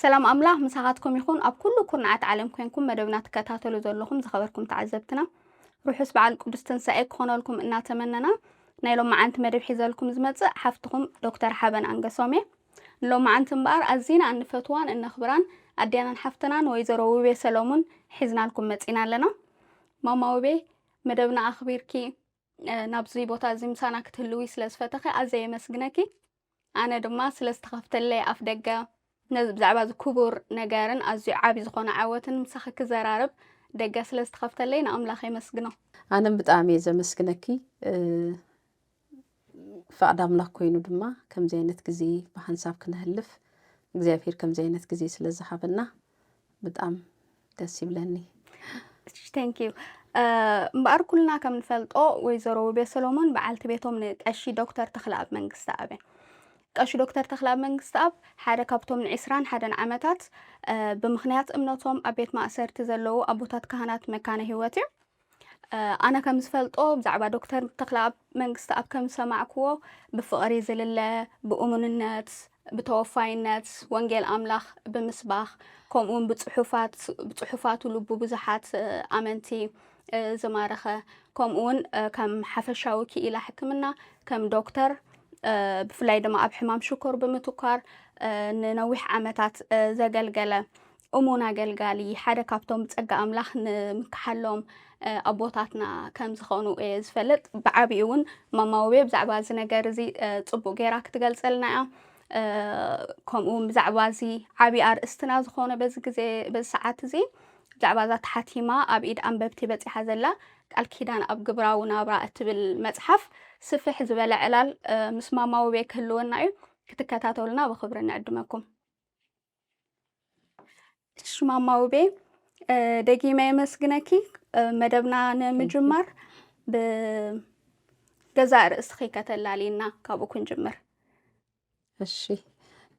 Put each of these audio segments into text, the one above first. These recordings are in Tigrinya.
ሰላም ኣምላኽ ምሳኻትኩም ይኹን። ኣብ ኩሉ ኩርናዓት ዓለም ኮንኩም መደብና ትከታተሉ ዘለኹም ዝኸበርኩም ተዓዘብትና ርሑስ በዓል ቅዱስ ትንሳኤ ክኾነልኩም እናተመነና ናይ ሎመዓንቲ መደብ ሒዘልኩም ዝመጽእ ሓፍትኹም ዶክተር ሓበን ኣንገሶም እየ። ንሎመዓንቲ እምበኣር ኣዚና እንፈትዋን እነኽብራን ኣዴናን ሓፍትናን ወይዘሮ ውቤ ሰለሙን ሒዝናልኩም መጺና ኣለና። ማማ ውቤ መደብና ኣኽቢርኪ ናብዚ ቦታ እዚ ምሳና ክትህልዊ ስለ ዝፈተኺ ኣዘ የመስግነኪ ኣነ ድማ ስለ ዝተኸፍተለይ ኣፍ ደገ ብዛዕባ እዚ ክቡር ነገርን ኣዝዩ ዓብዪ ዝኾነ ዓወትን ምሳኺ ክዘራርብ ደገ ስለ ዝተኸፍተለይ ንኣምላኽ የመስግኖ ኣነም ብጣዕሚ እየ ዘመስግነኪ ፍቃድ ኣምላክ ኮይኑ ድማ ከምዚ ዓይነት ግዜ ብሓንሳብ ክነህልፍ እግዚኣብሄር ከምዚ ዓይነት ግዜ ስለ ዝሃበና ብጣም ደስ ይብለኒ ዩ እምበኣር ኩልና ከም ንፈልጦ ወይዘሮ ውቤ ሰሎሞን በዓልቲ ቤቶም ንቀሺ ዶክተር ተክለኣብ መንግስቲ ኣብ እያ ቀሺ ዶክተር ተክለኣብ መንግስቲ ኣብ ሓደ ካብቶም ንዕስራን ሓደን ዓመታት ብምክንያት እምነቶም ኣብ ቤት ማእሰርቲ ዘለዉ ኣቦታት ካህናት መካነ ህይወት እዩ ኣነ ከም ዝፈልጦ ብዛዕባ ዶክተር ተክለኣብ መንግስትኣብ ከም ዝሰማዕክዎ ብፍቕሪ ዝልለ ብእሙንነት ብተወፋይነት ወንጌል ኣምላኽ ብምስባኽ ከምኡ ውን ብፅሑፋቱ ልቡ ብዙሓት ኣመንቲ ዝማረኸ ከምኡ ውን ከም ሓፈሻዊ ክኢላ ሕክምና ከም ዶክተር ብፍላይ ድማ ኣብ ሕማም ሽኮር ብምትኳር ንነዊሕ ዓመታት ዘገልገለ እሙን ኣገልጋሊ ሓደ ካብቶም ብጸጋ ኣምላኽ ንምካሓሎም ኣቦታትና ከም ዝኾኑ እየ ዝፈልጥ ብዓቢኡ እውን ማማ ውቤ ብዛዕባ እዚ ነገር እዚ ጽቡቅ ጌራ ክትገልጸልና እያ ከምኡ እውን ብዛዕባ እዚ ዓብዪ ኣርእስትና ዝኾነ በዚ ግዜ በዚ ሰዓት እዚ ብዛዕባ እዛ ተሓቲማ ኣብ ኢድ ኣንበብቲ በጺሓ ዘላ ቃል ኪዳን ኣብ ግብራዊ ናብራ እትብል መጽሓፍ ስፍሕ ዝበለ ዕላል ምስ ማማዊ ቤ ክህልወና እዩ ክትከታተሉና ብክብሪ ንዕድመኩም እሺ ማማ ውቤ እ፣ ደጊመ የመስግነኪ እ፣ መደብና ንምጅማር ብገዛእ ርእስኺ ከተላልይና ካብኡ ክንጅምር እሺ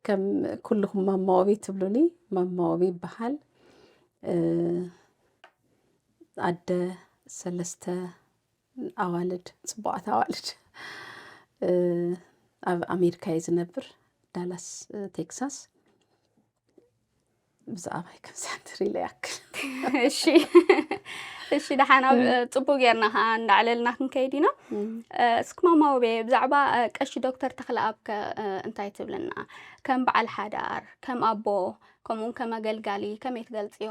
ከም ኩልኹም ማማወቢ ትብሉኒ ማማወቢ ይበሃል እ፣ ኣደ ሰለስተ ኣዋልድ ፅቡቓት ኣዋልድ ኣብ ኣሜሪካ እየ ዝነብር ዳላስ ቴክሳስ ብዛዕባ ከምሳትሪ ኢለ ያክል እሺ እሺ ደሓና ፅቡቅ ጌርና ከዓ እንዳዕለልና ክንከይድ ኢና እስኪ ማማውቤ ብዛዕባ ቀሺ ዶክተር ተክለኣብ ከ እንታይ ትብልና ከም በዓል ሓዳር ከም ኣቦ ከምኡውን ከም ኣገልጋሊ ከመይ ትገልፅዮ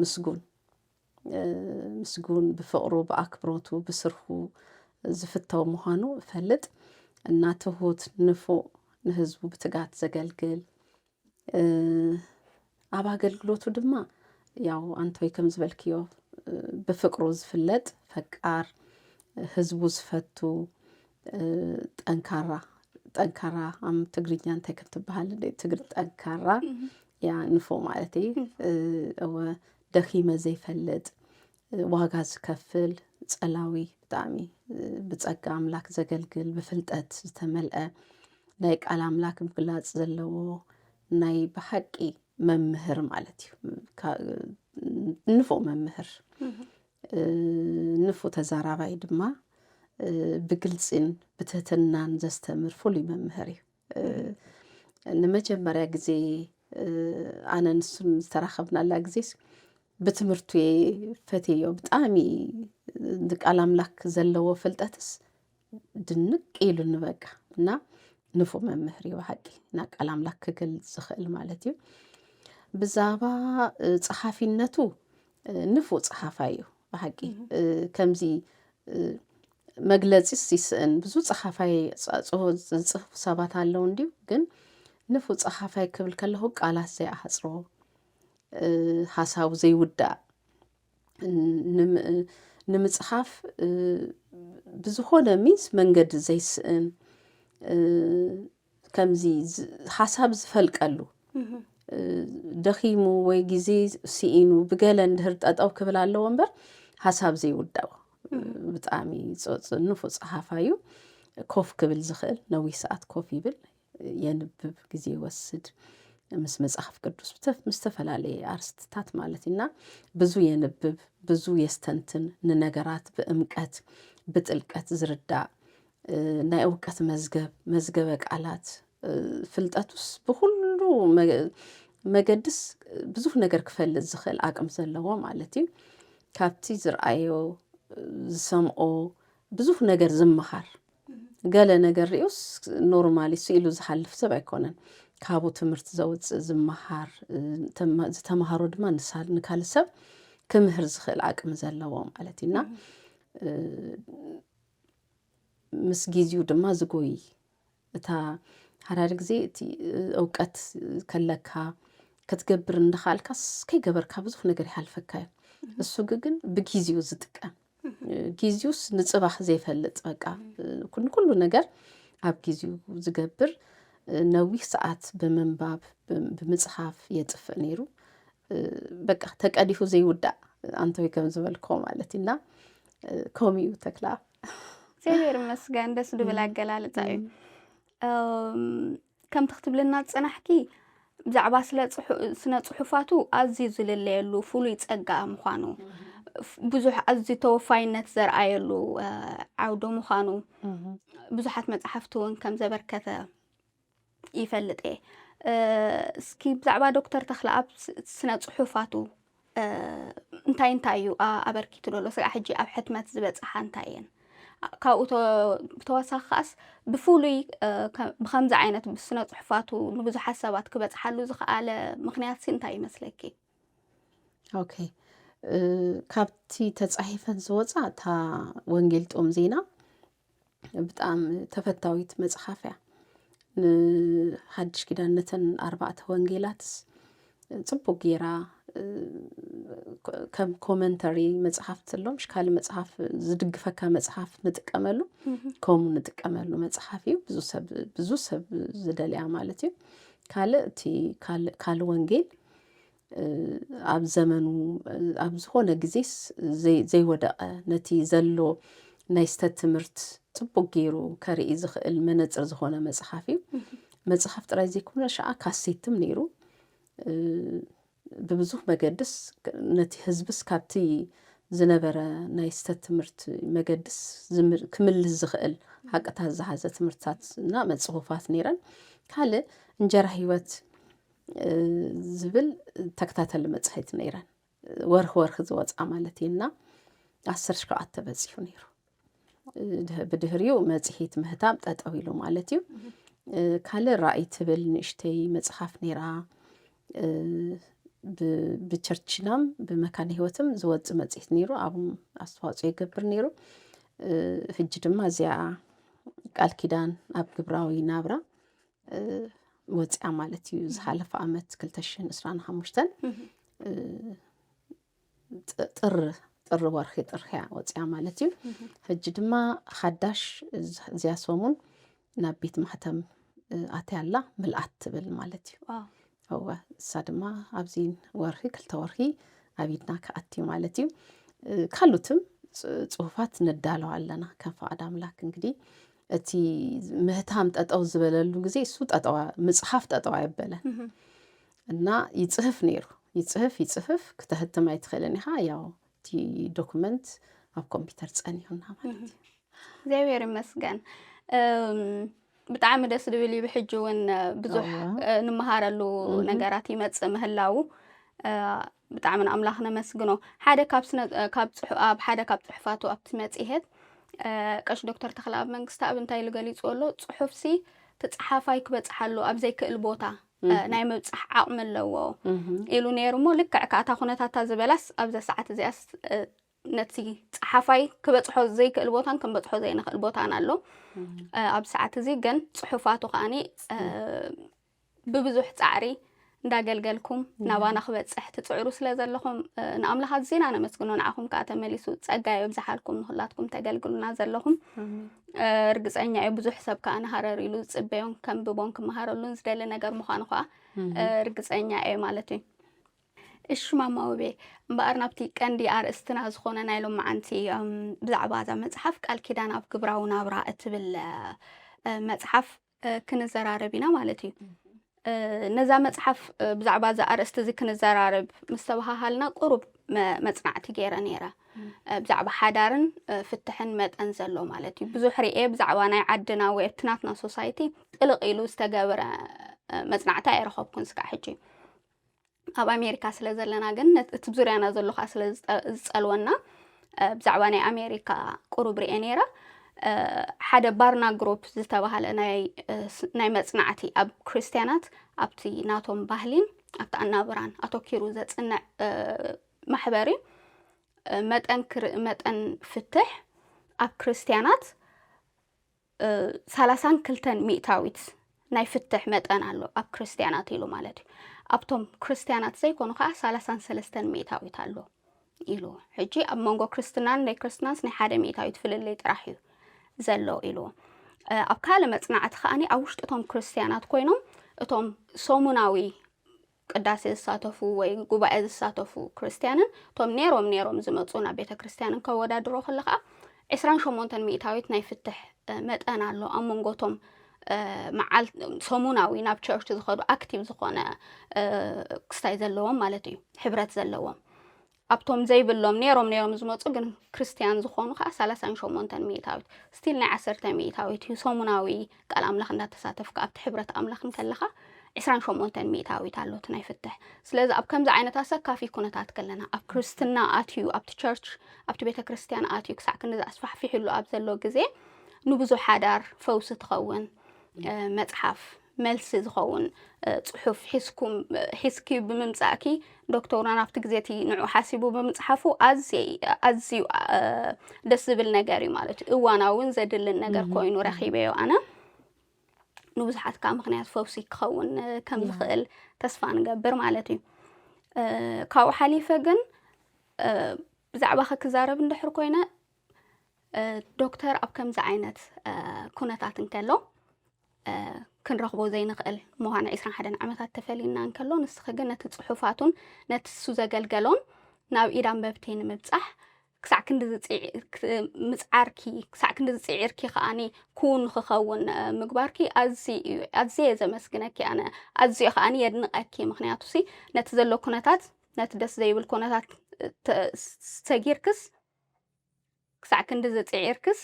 ምስጉን ምስጉን ብፍቕሩ ብኣክብሮቱ ብስርሑ ዝፍተው ምዃኑ እፈልጥ እና ትሁት ንፉእ ንህዝቡ ብትጋት ዘገልግል ኣብ ኣገልግሎቱ ድማ ያው ኣንቶይ ከም ዝበልክዮ ብፍቅሩ ዝፍለጥ ፈቃር ህዝቡ ዝፈቱ ጠንካራ ጠንካራ ኣብ ትግርኛ እንታይ ከም ትበሃል ትግር ጠንካራ ያ ንፎ ማለት እዩ እወ ደኺመ ዘይፈልጥ ዋጋ ዝከፍል ጸላዊ ብጣዕሚ ብጸጋ ኣምላክ ዘገልግል ብፍልጠት ዝተመልአ ናይ ቃል ኣምላክ ምግላጽ ዘለዎ ናይ ብሓቂ መምህር ማለት እዩ ንፎ መምህር ንፉ ተዛራባይ ድማ ብግልጺን ብትህትናን ዘስተምር ፍሉይ መምህር እዩ ንመጀመርያ ግዜ ኣነ ንሱን ዝተራኸብናላ ግዜስ ብትምህርቱ እየ ፈትየዮ ብጣዕሚ ንቃል ኣምላክ ዘለዎ ፍልጠትስ ድንቅ ኢሉኒ በቃ እና ንፉ መምህር እዩ ብሓቂ እና ቃል ኣምላክ ክገልፅ ዝኽእል ማለት እዩ ብዛባ ፀሓፊነቱ ንፉ ፀሓፋ እዩ ብሓቂ ከምዚ መግለፂስ ይስእን ብዙ ፀሓፋይ ዝፅሕፉ ሰባት ኣለዉ እንዲዩ ግን ንፉ ፀሓፋይ ክብል ከለኹ ቃላት ዘይኣሕፅሮ ሓሳቡ ዘይውዳእ ንምጽሓፍ ብዝኾነ ሚንስ መንገዲ ዘይስእን ከምዚ ሓሳብ ዝፈልቀሉ ደኺሙ ወይ ግዜ ስኢኑ ብገለ እንድህር ጠጠው ክብል ኣለዎ እምበር ሓሳብ ዘይውዳኡ ብጣዕሚ ንፉዕ ፀሓፋይ እዩ ኮፍ ክብል ዝኽእል ነዊሕ ሰዓት ኮፍ ይብል የንብብ ግዜ ይወስድ ምስ መጽሓፍ ቅዱስ ምስ ዝተፈላለየ ኣርስትታት ማለት እና ብዙ የንብብ ብዙ የስተንትን ንነገራት ብእምቀት ብጥልቀት ዝርዳእ ናይ እውቀት መዝገብ መዝገበ ቃላት ፍልጠቱስ ብኩሉ መገድስ ብዙ ነገር ክፈልጥ ዝኽእል ኣቅም ዘለዎ ማለት እዩ ካብቲ ዝርኣዮ ዝሰምኦ ብዙ ነገር ዝመሃር ገለ ነገር ሪኡስ ኖርማሊ ስኢሉ ዝሓልፍ ሰብ ኣይኮነን። ካብኡ ትምህርቲ ዘውፅእ ዝመሃር ዝተምሃሮ ድማ ንካልእ ሰብ ክምህር ዝኽእል ዓቅሚ ዘለዎ ማለት እዩና ምስ ግዜኡ ድማ ዝጎይ እታ ሓዳሪ ግዜ እቲ እውቀት ከለካ ክትገብር እንዳኻልካስ ከይገበርካ ብዙሕ ነገር ይሓልፈካ እዩ። እሱ ግን ብግዜኡ ዝጥቀም ጊዜውስ ንጽባሕ ዘይፈልጥ በቃ ኩሉ ነገር ኣብ ጊዜው ዝገብር ነዊሕ ሰዓት ብምንባብ ብምጽሓፍ የጥፍእ ነይሩ በቃ ተቀዲሑ ዘይውዳእ ኣንተወይ ከም ዝበልኮ ማለት እና ከምኡ እዩ ተክላ እግዚኣብሔር ይመስገን ደስ ድብል ኣገላልፃ እዩ ከምቲ ክትብልና ዝጸናሕኪ ብዛዕባ ስነ ጽሑፋቱ ኣዝዩ ዝልለየሉ ፍሉይ ጸጋ ምዃኑ ብዙሕ ኣዝዩ ተወፋይነት ዘርኣየሉ ዓውዲ ምዃኑ ብዙሓት መጽሓፍቲ እውን ከም ዘበርከተ ይፈልጥ እየ እስኪ ብዛዕባ ዶክተር ተክለኣብ ስነ ጽሑፋቱ እንታይ እንታይ እዩ ኣበርኪቱ ዘሎ ስጋዕ ሕጂ ኣብ ሕትመት ዝበፅሓ እንታይ እየን ካብኡ ብተወሳኺ ከዓስ ብፍሉይ ብከምዚ ዓይነት ብስነ ፅሑፋቱ ንብዙሓት ሰባት ክበፅሓሉ ዝኸኣለ ምክንያት እንታይ ይመስለኪ? ኦኬ ካብቲ ተፃሒፈን ዝወፃ እታ ወንጌል ጦም ዜና ብጣዕሚ ተፈታዊት መጽሓፍ እያ ንሓድሽ ኪዳን ነተን ኣርባዕተ ወንጌላትስ ጽቡቅ ጌራ ከም ኮመንተሪ መጽሓፍ ትሎም ሽካሊ መጽሓፍ ዝድግፈካ መጽሓፍ ንጥቀመሉ ከምኡ ንጥቀመሉ መጽሓፍ እዩ ብዙ ሰብ ብዙ ሰብ ዝደልያ ማለት እዩ ካልእ እቲ ካልእ ወንጌል ኣብ ዘመኑ ኣብ ዝኾነ ግዜስ ዘይወደቐ ነቲ ዘሎ ናይ ስተት ትምህርት ጽቡቅ ገይሩ ከርኢ ዝኽእል መነጽር ዝኾነ መጽሓፍ እዩ መጽሓፍ ጥራይ ዘይኮነ ሸዓ ካሴትም ነይሩ ብብዙሕ መገድስ ነቲ ህዝብስ ካብቲ ዝነበረ ናይ ስተት ትምህርት መገድስ ክምልስ ዝኽእል ሓቅታት ዝሓዘ ትምህርትታት እና መጽሑፋት ነይረን ካልእ እንጀራ ህይወት ዝብል ተከታተሊ መጽሔት ነይረን ወርኺ ወርኺ ዝወፃ ማለት እዩ እና ዓስር ሸውዓተ በፂሑ ነይሩ ብድህሪኡ መፅሂት ምህታም ጠጠው ኢሉ ማለት እዩ ካልእ ራእይ ትብል ንእሽተይ መፅሓፍ ነይራ ብቸርችናም ብመካነ ህይወትም ዝወፅ መፅሄት ነይሩ ኣብ ኣስተዋፅኦ ይገብር ነይሩ ህጂ ድማ እዚኣ ቃል ኪዳን ኣብ ግብራዊ ናብራ ወፅያ ማለት እዩ ዝሓለፈ ዓመት 225 ጥር ጥር ወርሒ ጥር እያ ወፅያ ማለት እዩ ሕጂ ድማ ሓዳሽ እዚያ ሰሙን ናብ ቤት ማሕተም ኣትያ ኣላ ምልኣት ትብል ማለት እዩ እወ እሳ ድማ ኣብዚ ወርሒ ክልተ ወርሒ ኣብ ኢድና ክኣት እዩ ማለት እዩ ካልኦትም ጽሁፋት ነዳለው ኣለና ከም ፍቓድ ኣምላክ እንግዲህ እቲ ምህታም ጠጠው ዝበለሉ ግዜ እሱ ጠጠዋ ምፅሓፍ ጠጠው ኣየበለን እና ይፅህፍ ነይሩ ይፅህፍ ይፅህፍ ክተህትም ኣይትኽእልን ኢኻ ያው እቲ ዶኩመንት ኣብ ኮምፒውተር ፀኒሑና ማለት እዩ እግዚኣብሔር ይመስገን ብጣዕሚ ደስ ዝብል እዩ ብሕጂ እውን ብዙሕ ንምሃረሉ ነገራት ይመፅእ ምህላው ብጣዕሚ ንኣምላኽ ነመስግኖ። ሓደ ካብ ስነ ካብ ጽሑ ኣብ ሓደ ካብ ጽሑፋቱ ኣብቲ መጽሔት ቀሽ ዶክተር ተክለኣብ መንግስተኣብ እንታይ ኢሉ ገሊጹ ኣሎ ጽሑፍሲ እቲ ጸሓፋይ ክበጽሓሉ ኣብ ዘይክእል ቦታ ናይ ምብጻሕ ዓቕሚ ኣለዎ ኢሉ ነይሩ እሞ ልክዕ ከኣታ ኩነታታ ዝበላስ ኣብዛ ሰዓት እዚኣስ ነቲ ጸሓፋይ ክበጽሖ ዘይክእል ቦታን ክንበጽሖ ዘይንኽእል ቦታን ኣሎ ኣብ ሰዓት እዚ ግን ጽሑፋቱ ከዓኒ ብብዙሕ ጻዕሪ እንዳገልገልኩም ናባና ክበፅሕ ትፅዕሩ ስለ ዘለኹም ንኣምላኽ ኣዝና ነመስግኖ ንዓኹም ከዓ ተመሊሱ ፀጋ የብዝሓልኩም ንኩላትኩም ተገልግሉና ዘለኹም እርግፀኛ እዩ ብዙሕ ሰብ ከዓ ንሃረር ኢሉ ዝፅበዮን ከምብቦን ክመሃረሉን ዝደሊ ነገር ምዃኑ ከዓ እርግፀኛ እየ ማለት እዩ እሺ ማማ ውቤ እምበኣር ናብቲ ቀንዲ ኣርእስትና ዝኾነ ናይ ሎማዓንቲ ብዛዕባ እዛ መጽሓፍ ቃል ኪዳን ኣብ ግብራዊ ናብራ እትብል መጽሓፍ ክንዘራረብ ኢና ማለት እዩ ነዛ መጽሓፍ ብዛዕባ እዛ ኣርእስቲ እዚ ክንዘራርብ ምስ ተባሃሃልና ቁሩብ መጽናዕቲ ገይረ ነይረ ብዛዕባ ሓዳርን ፍትሕን መጠን ዘሎ ማለት እዩ ብዙሕ ርኤ ብዛዕባ ናይ ዓድና ወይ እትናትና ሶሳይቲ ጥልቕ ኢሉ ዝተገብረ መጽናዕቲ ኣይረኸብኩን ስካዕ ሕጂ ኣብ ኣሜሪካ ስለ ዘለና ግን ነት- እቲ ዙርያና ዘሎ ከዓ ስለ ዝጠ- ዝጸልወና እ፣ ብዛዕባ ናይ ኣሜሪካ ቁሩብ ርኤ ነይረ እ፣ ሓደ ባርና ግሩፕ ዝተባሃለ ናይ እ፣ ስ- ናይ መጽናዕቲ ኣብ ክርስትያናት ኣብቲ ናቶም ባህሊን ኣብቲ ኣናብራን ኣተኪሩ ዘጽንዕ እ፣ ማሕበር እዩ እ፣ መጠን ክር- መጠን ፍትሕ ኣብ ክርስትያናት ሰላሳን ክልተን ሚእታዊት ናይ ፍትሕ መጠን ኣሎ ኣብ ክርስትያናት ኢሉ ማለት እዩ ኣብቶም ክርስትያናት ዘይኮኑ ከዓ ሰላሳን ሰለስተን ሚእታዊት ኣሎ ኢሉ ሕጂ ኣብ መንጎ ክርስትናን ናይ ክርስትናንስ ናይ ሓደ ሚእታዊት ፍልልይ ጥራሕ እዩ ዘሎ ኢሉ ኣብ ካልእ መፅናዕቲ ከዓኒ ኣብ ውሽጢ እቶም ክርስትያናት ኮይኖም እቶም ሰሙናዊ ቅዳሴ ዝሳተፉ ወይ ጉባኤ ዝሳተፉ ክርስትያንን እቶም ኔሮም ኔሮም ዝመጹ ናብ ቤተ ክርስትያንን ከወዳድሮ ከሎ ከኣ ዕስራን ሸሞንተን ሚእታዊት ናይ ፍትሕ መጠን ኣሎ ኣብ መንጎቶም መዓል ሰሙናዊ ናብ ቸርች ዝኸዱ ኣክቲቭ ዝኾነ ክስታይ ዘለዎም ማለት እዩ ሕብረት ዘለዎም ኣብቶም ዘይብሎም ኔሮም ኔሮም ዝመጹ ግን ክርስትያን ዝኾኑ ከኣ ሰላሳን ሸሞንተን ሚእታዊት ስቲል ናይ ዓሰርተ ሚእታዊት እዩ ሰሙናዊ ቃል ኣምላኽ እንዳተሳተፍካ ኣብቲ ሕብረት ኣምላኽ እንከለኻ ዕስራን ሸሞንተን ሚእታዊት ኣሎ እቲ ናይ ፍትሕ ስለዚ ኣብ ከምዚ ዓይነት ኣሰካፊ ኩነታት ከለና ኣብ ክርስትና ኣትዩ ኣብቲ ቸርች ኣብቲ ቤተ ክርስትያን ኣትዩ ክሳዕ ክንዲ ኣስፋሕፊሕሉ ኣብ ዘሎ ግዜ ንብዙ ሓዳር ፈውሲ ትኸውን መጽሓፍ መልሲ ዝኸውን ጽሑፍ ሒዝኩም ሒዝኪ ብምምጻእኪ ዶክተርና ናብቲ ግዜ እቲ ንዑ ሓሲቡ ብምጽሓፉ ኣዝየ ኣዝዩ ደስ ዝብል ነገር እዩ ማለት እዩ እዋናውን ዘድልን ነገር ኮይኑ ረኺበዮ ኣነ ንብዙሓት ከዓ ምክንያት ፈውሲ ክኸውን ከም ዝኽእል ተስፋ ንገብር ማለት እዩ ካብኡ ሓሊፈ ግን ብዛዕባ ክዛረብ እንድሕር ኮይነ ዶክተር ኣብ ከምዚ ዓይነት ኩነታት እንከሎ ክንረኽቦ ዘይንኽእል ምዃኑ ዕስራን ሓደን ዓመታት ተፈሊና እንከሎ ንስኺ ግን ነቲ ጽሑፋቱን ነቲ እሱ ዘገልገሎን ናብ ኢድ ኣንበብቲ ንምብጻሕ ክሳዕ ክንዲ ምፅዓርኪ ክሳዕ ክንዲ ዝፅዒርኪ ከዓኒ ክውን ንክኸውን ምግባርኪ ኣዝየ ዘመስግነኪ ኣነ ኣዝዮ ከዓኒ የድንቐኪ ምክንያቱ ሲ ነቲ ዘሎ ኩነታት ነቲ ደስ ዘይብል ኩነታት ሰጊርክስ ክሳዕ ክንዲ ዝፅዒርክስ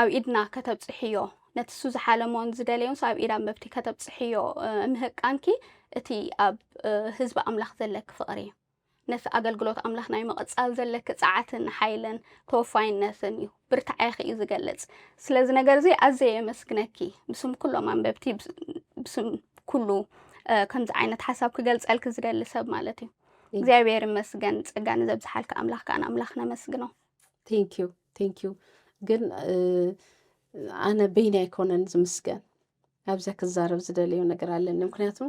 ኣብ ኢድና ከተብጽሕዮ፣ ነቲ እሱ ዝሓለሞን ዝደለዮንስ ኣብ ኢድ ኣንበብቲ ከተብጽሕዮ ምህቃንኪ፣ እቲ ኣብ ህዝቢ ኣምላኽ ዘለኪ ፍቕሪ፣ ነቲ ኣገልግሎት ኣምላኽ ናይ ምቕጻል ዘለኪ ጸዓትን ሓይልን ተወፋይነትን እዩ። ብርታዔኺ እዩ ዝገልጽ። ስለዚ ነገር እዚ ኣዘየ የመስግነኪ። ብስም ኩሎም ኣንበብቲ፣ ብስም ኩሉ ከምዚ ዓይነት ሓሳብ ክገልጸልኪ ዝደሊ ሰብ ማለት እዩ። እግዚኣብሔር ይመስገን፣ ጸጋ ንዘብዝሓልኪ ኣምላኽ ከኣ ንኣምላኽ ነመስግኖ። ቴንክ ዩ። ቴንኪዩ ግን ኣነ በይኒ ኣይኮነን ዝምስገን ኣብዚያ ክዛረብ ዝደለዮ ነገር ኣለኒ ምክንያቱ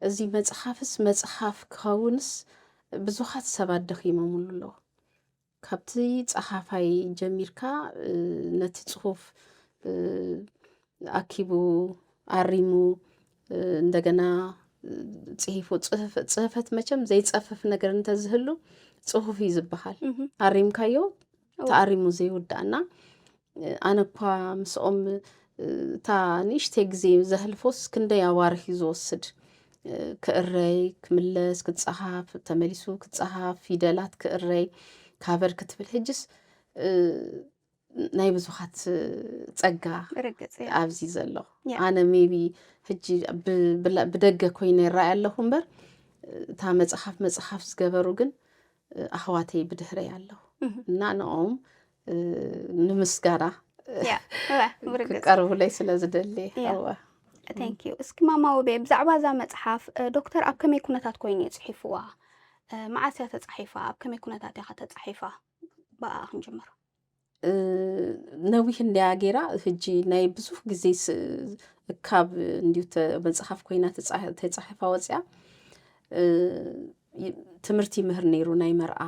እዚ መፅሓፍስ መፅሓፍ ክኸውንስ ብዙሓት ሰባት ደኺሞምሉ ኣለዎ ካብቲ ፀሓፋይ ጀሚርካ ነቲ ፅሁፍ ኣኪቡ ኣሪሙ እንደገና ፅሂፉ ፅህፈት መቸም ዘይፀፍፍ ነገር እንተዝህሉ ፅሁፍ እዩ ዝበሃል ኣሪምካዮ ተኣሪሙ ዘይውዳእ እና ኣነ እኳ ምስኦም እታ ንእሽተይ ግዜ ዘህልፎስ ክንደይ ኣዋርሕ እዩ ዝወስድ ክእረይ ክምለስ ክፀሃፍ ተመሊሱ ክፀሃፍ ፊደላት ክእረይ ካቨር ክትብል ሕጅስ ናይ ብዙኻት ፀጋ ኣብዚ ዘሎ ኣነ ሜቢ ሕጂ ብደገ ኮይነ ይረኣይ ኣለኹ እምበር እታ መፅሓፍ መፅሓፍ ዝገበሩ ግን ኣሕዋተይ ብድሕረይ ኣለኹ እና ንኦም ንምስጋና ክቀርቡለይ ስለ ዝደሊ ኣዋ ቴንክዩ እስኪ ማማ ውቤ ብዛዕባ እዛ መፅሓፍ ዶክተር ኣብ ከመይ ኩነታት ኮይኑ እዩ ፅሒፍዋ መዓስ እያ ተፃሒፋ ኣብ ከመይ ኩነታት እያ ከተፃሒፋ ብኣኣ ክንጅምር ነዊሕ እንድያ ገይራ ህጂ ናይ ብዙሕ ግዜ ካብ እንዲዩ መፅሓፍ ኮይና ተፃሒፋ ወፅያ ትምህርቲ ይምህር ነይሩ ናይ መርኣ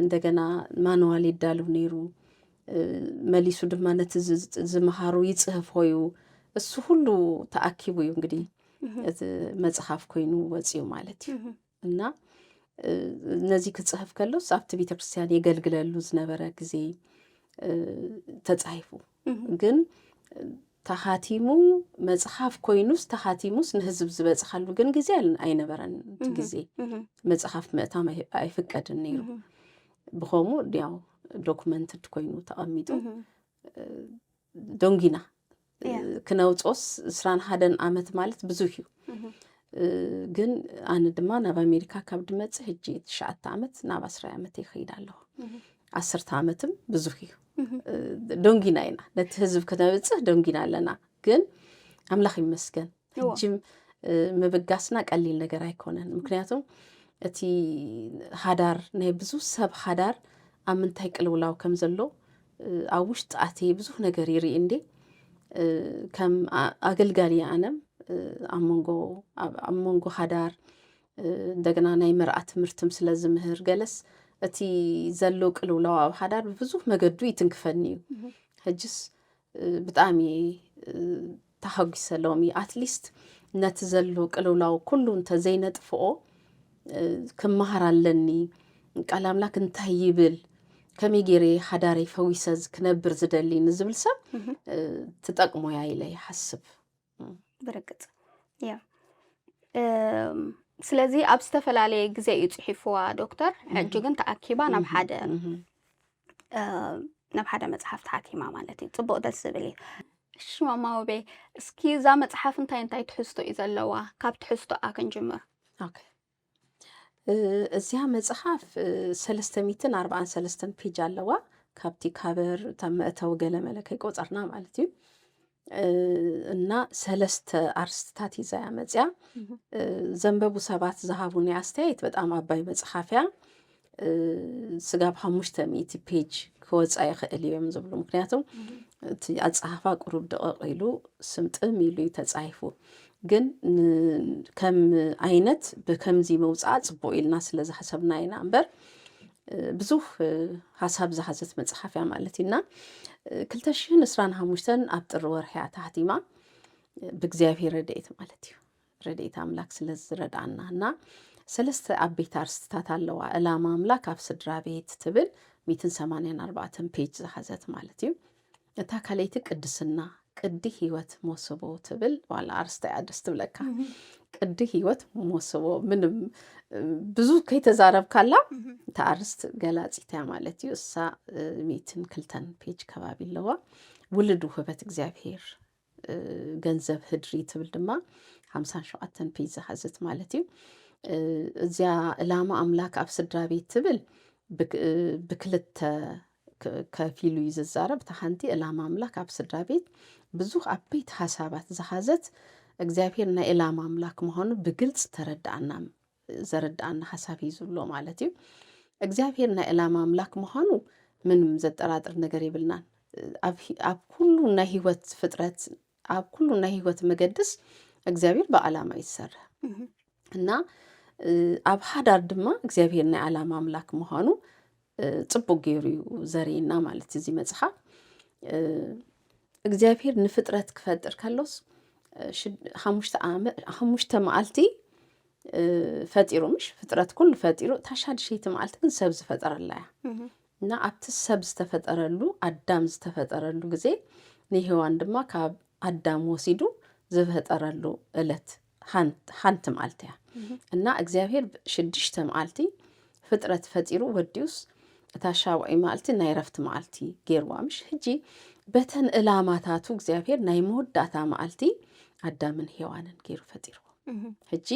እንደገና ማንዋል ይዳልው ነይሩ መሊሱ ድማ ነቲ ዝመሃሩ ይፅህፎ እዩ እሱ ሁሉ ተኣኪቡ እዩ እንግዲህ እቲ መፅሓፍ ኮይኑ ወፅዩ ማለት እዩ እና ነዚ ክጽሕፍ ከሎስ ኣብቲ ቤተ ክርስቲያን የገልግለሉ ዝነበረ ግዜ ተጻሒፉ ግን ተኻቲሙ መጽሓፍ ኮይኑስ ተኻቲሙስ ንህዝብ ዝበጽሓሉ ግን ግዜ ኣይነበረን ግዜ መጽሓፍ ምእታም ኣይፍቀድን ነይሩ ብኸምኡ ያው ዶክመንትድ ኮይኑ ተቐሚጡ ዶንጊና ክነውፆስ እስራን ሃደን ዓመት ማለት ብዙሕ እዩ ግን ኣነ ድማ ናብ ኣሜሪካ ካብ ድመፅ ሕጂ ትሽዓተ ዓመት ናብ ኣስራይ ዓመት ይኸይድ ኣለኹ ዓሰርተ ዓመትም ብዙሕ እዩ ዶንጊና ኢና ነቲ ህዝብ ክነብፅህ ዶንጊና ኣለና ግን ኣምላኽ ይመስገን ሕጂም ምብጋስና ቀሊል ነገር ኣይኮነን ምክንያቱም እቲ ሃዳር ናይ ብዙ ሰብ ሃዳር ኣብ ምንታይ ቅልውላው ከም ዘሎ ኣብ ውሽጢ ኣቲ ብዙሕ ነገር ይርኢ እንዴ ከም ኣገልጋሊ ኣነም ኣብ መንጎ ኣብ መንጎ ሃዳር እንደገና ናይ መርኣ ትምህርትም ስለ ዝምህር ገለስ እቲ ዘሎ ቅልውላው ኣብ ሃዳር ብብዙሕ መገዱ ይትንክፈኒ እዩ ሕጅስ ብጣዕሚ ተሃጒሰ ሎሚ ኣትሊስት ነቲ ዘሎ ቅልውላው ኩሉ እንተዘይነጥፍኦ ክመሃር ኣለኒ ቃል ኣምላክ እንታይ ይብል ከመይ ገይረ ሓዳረይ ፈዊሰ ክነብር ዝደሊ ንዝብል ሰብ ትጠቅሞ እያ ኢለ ይሓስብ ብርግፅ ያ ስለዚ ኣብ ዝተፈላለየ ግዜ እዩ ፅሒፍዋ ዶክተር ሕጂ ግን ተኣኪባ ናብ ሓደ ናብ ሓደ መፅሓፍ ተሓቲማ ማለት እዩ ፅቡቅ ደስ ዝብል እዩ እሺ ማማ ውቤ እስኪ እዛ መፅሓፍ እንታይ እንታይ ትሕዝቶ እዩ ዘለዋ ካብ ትሕዝቶኣ ክንጅምር እዚኣ መጽሓፍ ሰለስተ ሚትን ኣርባዓን ሰለስተን ፔጅ ኣለዋ ካብቲ ካበር እታ መእተዊ ገለ መለ ከይቆፀርና ማለት እዩ እና ሰለስተ ኣርስትታት ይዛ እያ መፅያ ዘንበቡ ሰባት ዝሃቡኒ ኣስተያየት በጣም ኣባይ መፅሓፍ እያ ስጋብ ሓሙሽተ ሚእቲ ፔጅ ክወፃ ይኽእል እዩ እዮም ዝብሉ ምክንያቱ እቲ ኣፀሓፋ ቅሩብ ደቐቕ ኢሉ ስምጥም ኢሉ እዩ ተፃሒፉ ግን ከም ዓይነት ብከምዚ መውፃእ ፅቡቅ ኢልና ስለ ዝሓሰብና ኢና እምበር ብዙህ ሓሳብ ዝሓዘት መፅሓፍ እያ ማለት እዩ እና ክልተ ሽሕን እስራን ሓሙሽተን ኣብ ጥሪ ወርሒ እያ ተሓቲማ ብእግዚኣብሔር ረድኤት ማለት እዩ ረድኤት ኣምላክ ስለ ዝረድኣና እና ሰለስተ ኣቤት ኣርስትታት ኣለዋ እላማ ኣምላክ ኣብ ስድራ ቤት ትብል ሚትን ሰማንያን ኣርባዕተን ፔጅ ዝሓዘት ማለት እዩ እታ ካልኣይቲ ቅድስና ቅዲ ህይወት ሞስቦ ትብል ዋላ ኣርስታ እያ ደስ ትብለካ ቅዲ ህይወት ሞስቦ ምንም ብዙ ከይተዛረብካላ እታ ኣርስት ገላፂት እያ ማለት እዩ እሳ ሚትን ክልተን ፔጅ ከባቢ ኣለዋ ውልድ ውህበት እግዚኣብሄር ገንዘብ ህድሪ ትብል ድማ ሓምሳን ሸውዓተን ፔጅ ዝሓዘት ማለት እዩ እዚያ ዕላማ ኣምላክ ኣብ ስድራ ቤት ትብል ብክልተ ከፊሉ እዩ ዝዛረብ እታ ሓንቲ ዕላማ ኣምላክ ኣብ ስድራ ቤት ብዙሕ ዓበይቲ ሓሳባት ዝሓዘት እግዚኣብሄር ናይ ዕላማ ኣምላክ ምዃኑ ብግልፂ ተረድኣና ዘረድኣና ሓሳብ እዩ ዝብሎ ማለት እዩ። እግዚኣብሄር ናይ ዕላማ ኣምላክ ምዃኑ ምንም ዘጠራጥር ነገር የብልናን። ኣብ ኩሉ ናይ ህይወት ፍጥረት ኣብ ኩሉ ናይ ህይወት መገድስ እግዚኣብሄር ብዓላማ እዩ ዝሰርሕ እና ኣብ ሓዳር ድማ እግዚኣብሄር ናይ ዓላማ ኣምላክ ምዃኑ ጽቡቅ ገይሩ እዩ ዘርእየና ማለት እዚ መጽሓፍ እግዚኣብሄር ንፍጥረት ክፈጥር ከሎስ ሓሙሽተ መዓልቲ ፈጢሩ ምሽ ፍጥረት ኩሉ ፈጢሩ እታ ሻድሸይቲ መዓልቲ ግን ሰብ ዝፈጠረላ እያ እና ኣብቲ ሰብ ዝተፈጠረሉ ኣዳም ዝተፈጠረሉ ግዜ ንሄዋን ድማ ካብ ኣዳም ወሲዱ ዝፈጠረሉ እለት ሓንቲ መዓልቲ እያ እና እግዚኣብሄር ሽዱሽተ መዓልቲ ፍጥረት ፈጢሩ ወዲኡስ እታ ሻውዒ መዓልቲ ናይ ረፍቲ መዓልቲ ገይርዋ ምሽ ሕጂ በተን እላማታቱ እግዚኣብሄር ናይ መወዳእታ መዓልቲ ኣዳምን ሄዋንን ገይሩ ፈጢርዎ ሕጂ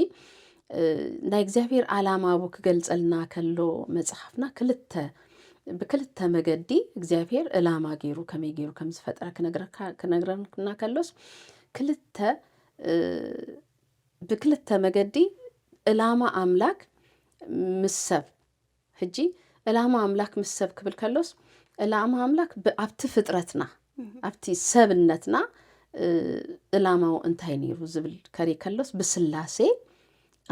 ናይ እግዚኣብሄር ዓላማ ብ ክገልጸልና ከሎ መጽሓፍና ክልተ ብክልተ መገዲ እግዚኣብሄር እላማ ገይሩ ከመይ ገይሩ ከም ዝፈጥረ ክነግረካ ክነግረና ከሎስ ክልተ ብክልተ መገዲ እላማ ኣምላክ ምስ ሰብ ሕጂ እላማ ኣምላክ ምስ ሰብ ክብል ከሎስ እላማ ኣምላክ ኣብቲ ፍጥረትና ኣብቲ ሰብነትና እላማው እንታይ ነይሩ ዝብል ከሪ ከሎስ ብስላሴ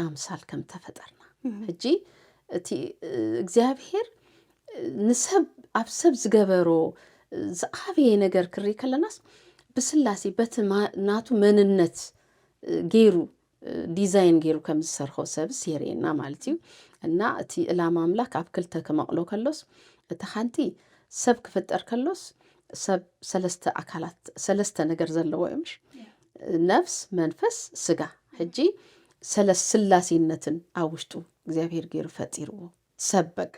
ኣምሳል ከም ተፈጠርና ሕጂ እቲ እግዚኣብሄር ንሰብ ኣብ ሰብ ዝገበሮ ዝዓበየ ነገር ክርኢ ከለናስ ብስላሴ በቲ ናቱ መንነት ገይሩ ዲዛይን ገይሩ ከም ዝሰርሖ ሰብስ የርእየና ማለት እዩ እና እቲ ዕላማ ኣምላክ ኣብ ክልተ ክመቕሎ ከሎስ እቲ ሓንቲ ሰብ ክፍጠር ከሎስ ሰብ ሰለስተ ኣካላት ሰለስተ ነገር ዘለዎ እዩ ምሽ ነፍስ መንፈስ ስጋ ሕጂ ሰለስ ስላሴነትን ኣብ ውሽጡ እግዚኣብሄር ጌሩ ፈጢርዎ ሰብ በቃ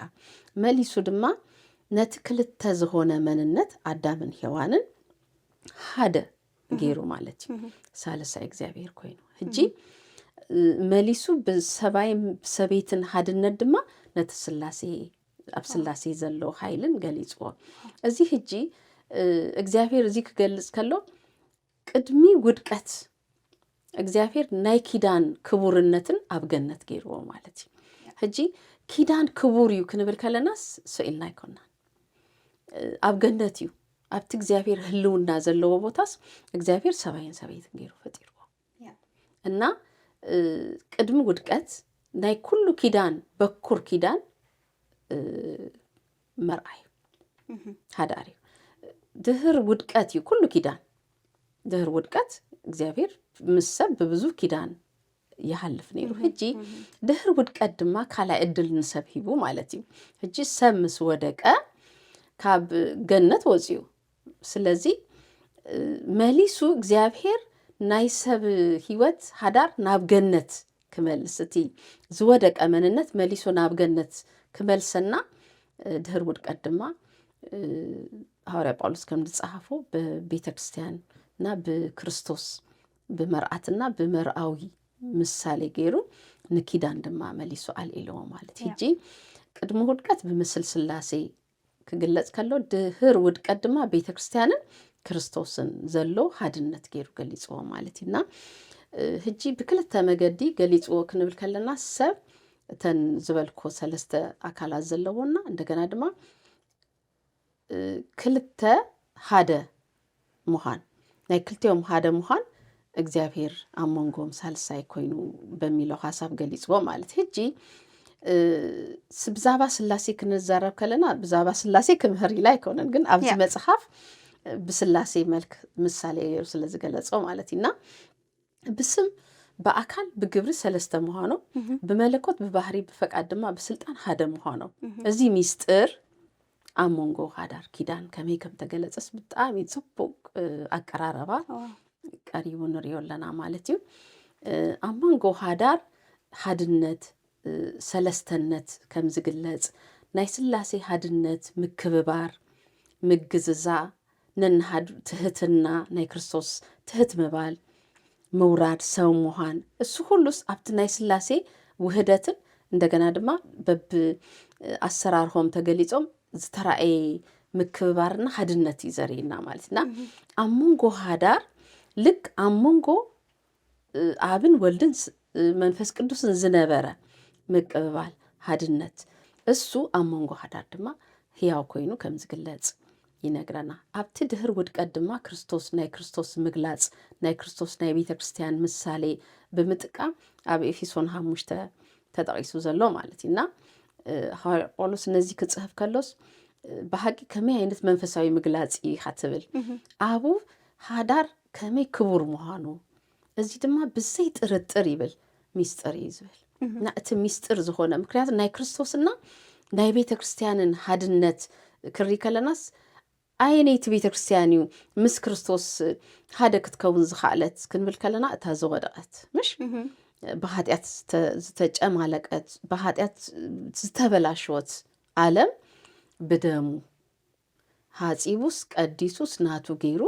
መሊሱ ድማ ነቲ ክልተ ዝኾነ መንነት ኣዳምን ሄዋንን ሓደ ጌሩ ማለት እዩ ሳልሳይ እግዚኣብሄር ኮይኑ ሕጂ መሊሱ ብሰባይ ሰበይትን ሓድነት ድማ ነቲ ስላሴ ኣብ ስላሴ ዘሎ ሓይልን ገሊፅዎ እዚ ሕጂ እግዚኣብሄር እዚ ክገልፅ ከሎ ቅድሚ ውድቀት እግዚኣብሔር ናይ ኪዳን ክቡርነትን ኣብ ገነት ገይርዎ ማለት እዩ ሕጂ ኪዳን ክቡር እዩ ክንብል ከለናስ ስኢልና ኣይኮናን ኣብ ገነት እዩ ኣብቲ እግዚኣብሔር ህልውና ዘለዎ ቦታስ እግዚኣብሔር ሰብኣይን ሰበይትን ገይሩ ፈጢርዎ እና ቅድሚ ውድቀት ናይ ኩሉ ኪዳን በኩር ኪዳን መርኣዩ ሃዳር እዩ ድህር ውድቀት እዩ ኩሉ ኪዳን ድህር ውድቀት እግዚኣብሔር ምስ ሰብ ብብዙ ኪዳን ይሃልፍ ነይሩ ሕጂ ድህር ውድቀት ድማ ካልኣይ እድል ንሰብ ሂቡ ማለት እዩ ሕጂ ሰብ ምስ ወደቀ ካብ ገነት ወፅዩ ስለዚ መሊሱ እግዚኣብሄር ናይ ሰብ ህይወት ሃዳር ናብ ገነት ክመልስ እቲ ዝወደቀ መንነት መሊሱ ናብ ገነት ክመልሰና ድህር ውድቀት ድማ ሃዋርያ ጳውሎስ ከም ዝጸሓፎ ብቤተ ክርስቲያን እና ብክርስቶስ ብመርኣትና ብመርኣዊ ምሳሌ ገይሩ ንኪዳን ድማ መሊሱ ኣልኢልዎ ማለት ሕጂ ቅድሚ ውድቀት ብምስል ስላሴ ክግለጽ ከሎ ድህር ውድቀት ድማ ቤተ ክርስቲያንን ክርስቶስን ዘሎ ሃድነት ገይሩ ገሊጽዎ ማለት እዩ እና ህጂ ብክልተ መገዲ ገሊጽዎ ክንብል ከለና ሰብ እተን ዝበልኮ ሰለስተ ኣካላት ዘለዎና እንደገና ድማ ክልተ ሓደ ምዃን ናይ ክልቲኦም ሓደ ምዃን እግዚኣብሔር ኣብ መንጎም ሳልሳይ ኮይኑ በሚለው ሀሳብ ገሊጽዎ ማለት ህጂ ብዛባ ስላሴ ክንዛረብ ከለና ብዛባ ስላሴ ክምህር ኢላ ኣይኮነን ግን ኣብዚ መጽሐፍ ብስላሴ መልክ ምሳሌ ገይሩ ስለዝገለጾ ማለት እና ብስም ብኣካል ብግብሪ ሰለስተ ምዃኖም ብመለኮት ብባህሪ ብፈቃድ ድማ ብስልጣን ሓደ ምዃኖም እዚ ሚስጥር ኣብ መንጎ ሃዳር ኪዳን ከመይ ከም ተገለጸስ ብጣዕሚ ጽቡቅ ኣቀራረባ ቀሪቡ ንሪኦ ኣለና ማለት እዩ ኣብ መንጎ ሃዳር ሃድነት ሰለስተነት ከም ዝግለጽ ናይ ስላሴ ሃድነት ምክብባር ምግዝዛ ነንሃድ ትህትና ናይ ክርስቶስ ትህት ምባል፣ ምውራድ፣ ሰብ ምዃን እሱ ኹሉስ ኣብቲ ናይ ሥላሴ ውህደትን እንደገና ድማ በብ ኣሰራርሆም ተገሊጾም ዝተራእየ ምክብባርና ሃድነት እዩ ዘርእየና ማለት እና ኣብ መንጎ ሃዳር ልክ ኣብ መንጎ ኣብን ወልድን መንፈስ ቅዱስን ዝነበረ ምቅብባል ሃድነት እሱ ኣብ መንጎ ሃዳር ድማ ህያው ኮይኑ ከም ዝግለጽ ይነግረና ኣብቲ ድህር ውድቀት ድማ ክርስቶስ ናይ ክርስቶስ ምግላጽ ናይ ክርስቶስ ናይ ቤተ ክርስቲያን ምሳሌ ብምጥቃም ኣብ ኤፌሶን ሓሙሽተ ተጠቂሱ ዘሎ ማለት እዩ እና ሃዋርያ ጳውሎስ ነዚ ክጽህፍ ከሎስ ብሓቂ ከመይ ዓይነት መንፈሳዊ ምግላጽ እዩ ትብል ኣቡ ሃዳር ከመይ ክቡር ምዃኑ፣ እዚ ድማ ብዘይ ጥርጥር ይብል ሚስጥር እዩ ዝብል እና እቲ ሚስጥር ዝኾነ ምክንያቱ ናይ ክርስቶስና ናይ ቤተ ክርስቲያንን ሃድነት ክርኢ ከለናስ ኣየነይቲ ቤተ ክርስቲያን እዩ ምስ ክርስቶስ ሓደ ክትከውን ዝኸኣለት ክንብል ከለና እታ ዝወደቐት ምሽ ብሃጢኣት ዝተጨማለቀት ብሃጢኣት ዝተበላሸወት ዓለም ብደሙ ሃጺቡስ ቀዲሱስ ናቱ ገይሩ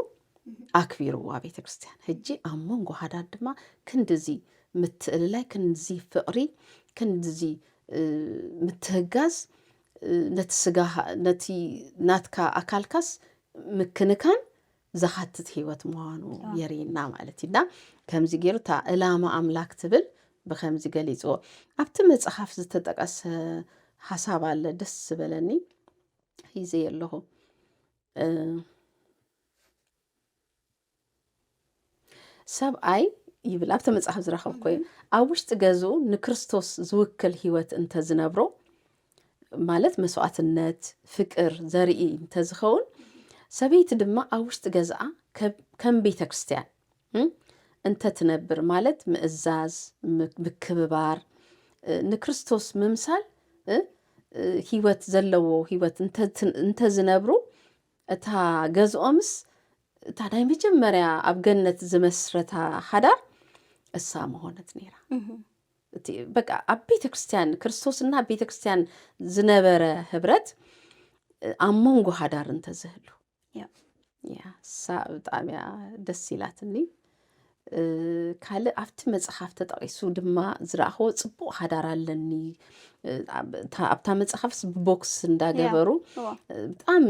ኣክቢርዋ ቤተ ክርስቲያን ሕጂ ኣብ መንጎ ሃዳድ ድማ ክንድዚ ምትእልላይ ክንዚ ፍቕሪ ክንዚ ምትህጋዝ ነቲ ስጋ ነቲ ናትካ ኣካልካስ ምክንካን ዘኻትት ህይወት ምዃኑ የርእና ማለት እዩና ከምዚ ገይሩ እታ እላማ ኣምላክ ትብል ብከምዚ ገሊፅዎ ኣብቲ መፅሓፍ ዝተጠቀሰ ሓሳብ ኣለ ደስ ዝበለኒ ሒዘ ኣለኹ ሰብኣይ ይብል ኣብቲ መፅሓፍ ዝረኸብኮ እዩ ኣብ ውሽጢ ገዙ ንክርስቶስ ዝውክል ሂወት እንተዝነብሮ ማለት መስዋእትነት ፍቅር ዘርኢ እንተዝኸውን ሰበይቲ ድማ ኣብ ውሽጢ ገዛኣ ከም ቤተ ክርስትያን እንተ ትነብር ማለት ምእዛዝ ምክብባር ንክርስቶስ ምምሳል ህይወት ዘለዎ ህይወት እንተ ዝነብሩ እታ ገዝኦምስ እታ ናይ መጀመርያ ኣብ ገነት ዝመስረታ ሓዳር እሳ መሆነት ነይራ በቃ ኣብ ቤተ ክርስትያን ክርስቶስና ቤተ ክርስትያን ዝነበረ ህብረት ኣብ መንጎ ሃዳር እንተዝህሉ ያ እሳ ብጣዕሚ እያ ደስ ኢላትኒ ካልእ ኣብቲ መጽሓፍ ተጠቒሱ ድማ ዝረኣኽዎ ጽቡቕ ሓዳር ኣለኒ ኣብታ መጽሓፍስ ብቦክስ እንዳገበሩ ብጣዕሚ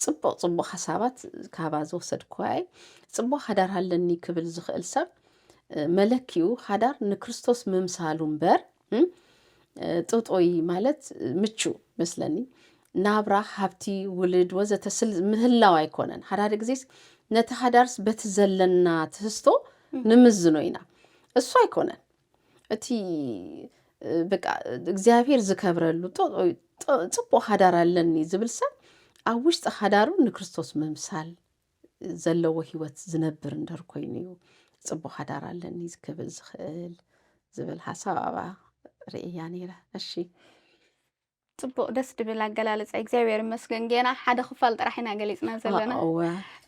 ጽቡቕ ጽቡቕ ሓሳባት ካባ ዝወሰድክዋ እየ ጽቡቕ ሓዳር ኣለኒ ክብል ዝኽእል ሰብ መለኪኡ ሓዳር ንክርስቶስ ምምሳሉ እምበር ጥጦይ ማለት ምቹ መስለኒ ናብራ ሃብቲ ውልድ ወዘተ ስል ምህላው ኣይኮነን ሓዳደ ግዜስ ነቲ ሃዳርስ በቲ ዘለና ትህዝቶ ንምዝኖ ኢና እሱ ኣይኮነን እቲ በቃ እግዚኣብሄር ዝከብረሉ ፅቡቅ ሃዳር ኣለኒ ዝብል ሰብ ኣብ ውሽጢ ሃዳሩ ንክርስቶስ ምምሳል ዘለዎ ህይወት ዝነብር እንደር ኮይኑ እዩ ፅቡቕ ሓዳር ኣለኒ ክብል ዝኽእል ዝብል ሓሳብ ኣብኣ ርእያ ነይረ እሺ ፅቡቅ ደስ ድብል ኣገላልፃ እግዚኣብሔር ይመስገን ጌና ሓደ ክፋል ጥራሕ ኢና ገሊፅና ዘለና እወ